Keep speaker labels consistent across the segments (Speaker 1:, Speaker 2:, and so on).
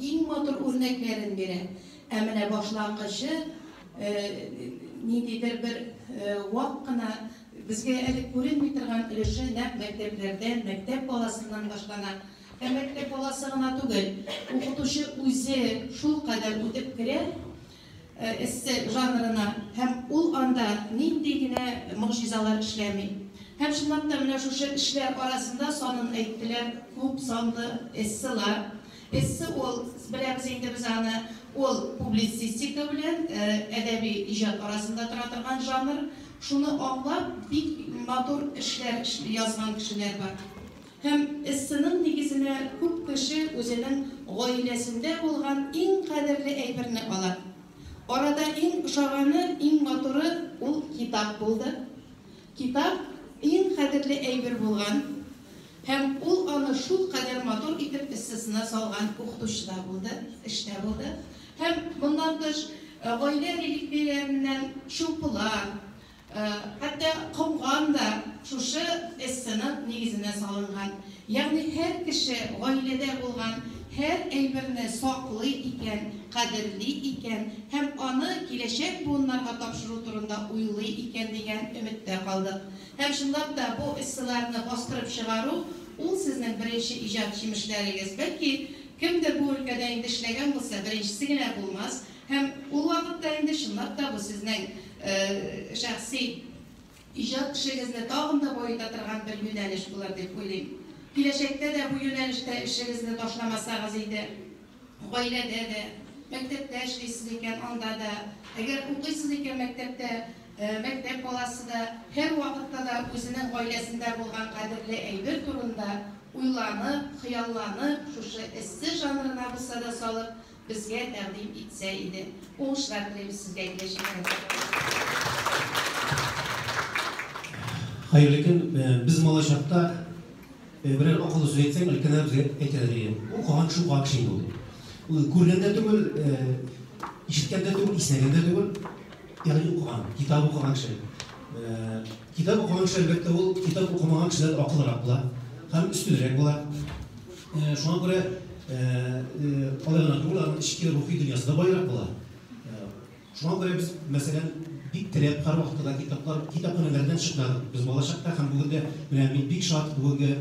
Speaker 1: Иң матур үрнәкләрен бирә. Ә менә башлангычы ниндидер бер вак кына, безгә әле күренми торган өлеше нәкъ мәктәпләрдән, мәктәп баласыннан башлана. Ә мәктәп баласы гына түгел, укытучы үзе шулкадәр үтеп керә. эссе жанрына һәм ул анда нинди генә могҗизалар эшләми. Һәм чынлап та менә шушы эшләр арасында санын әйттеләр, күп санлы эсселар. Эссе ул, беләбез инде без аны, ул публицистика белән әдәби иҗат арасында тора торган жанр. Шуны аңлап, бик матур эшләр язган кешеләр бар. Һәм эссеның нигезенә күп кеше үзенең гаиләсендә булган иң кадерле әйберне ала. Арада иң ошаганы, иң матуры ул китап булды. Китап, иң кадерле әйбер булган һәм ул аны шулкадәр матур итеп эссесына салган укытучы да булды, эш тә булды. Һәм, моннан тыш, гаилә реликвияләреннән шырпылар, Хәтта комган да шушы эссенап нигезенә салынган. Ягъни һәр кеше гаиләдә булган һәр әйберне саклый икән, кадерли икән һәм аны киләчәк буыннарга тапшыру турында уйлый икән дигән өметтә калдык. Һәм чынлап та бу эсселарны бастырып чыгару, ул сезнең беренче иҗат җимешләрегез. Бәлки, кемдер бу өлкәдә инде эшләгән булса, беренчесе генә булмас. Һәм ул вакытта инде чынлап та бу сезнең шәхси иҗат эшегезне тагын да баета торган бер юнәлеш булыр дип уйлыйм. Киләчәктә дә бу юнәлештә эшегезне ташламасагыз иде. Гаиләдә дә, мәктәптә эшлисез икән, анда да, әгәр укыйсыз икән мәктәптә, мәктәп баласы да һәрвакытта да үзенең гаиләсендә булган кадерле әйбер турында уйланып, хыялланып, шушы эссе жанрына булса да салып, Безгә тәкъдим итсә
Speaker 2: иде. Уңышлар телим сезгә киләчәктә дә. Хәерле көн. Без малай чакта берәр акыллы сүз әйтсәң, өлкәннәр безгә әйтәләр иде. Укыган кеше укыган кеше инде ул. Ул күргән дә түгел, ишеткән дә түгел, иснәгән дә түгел. Ягъни укыган, китап укыган кеше. Китап укымакчы, әлбәттә, ул китап укымаган кешедән акыллырак була һәм өстенрәк була. Шуңа күрә алай гына түгел, аның эчке рухи дөньясы да баерак була. Шуңа күрә без, мәсәлән, бик теләп һәрвакытта да китаплар, китапханәләрдән чыкмадык. Без бала чакта һәм бүген дә, менә мин бик шат, бүгенге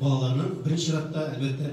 Speaker 2: балаларның беренче чиратта, әлбәттә,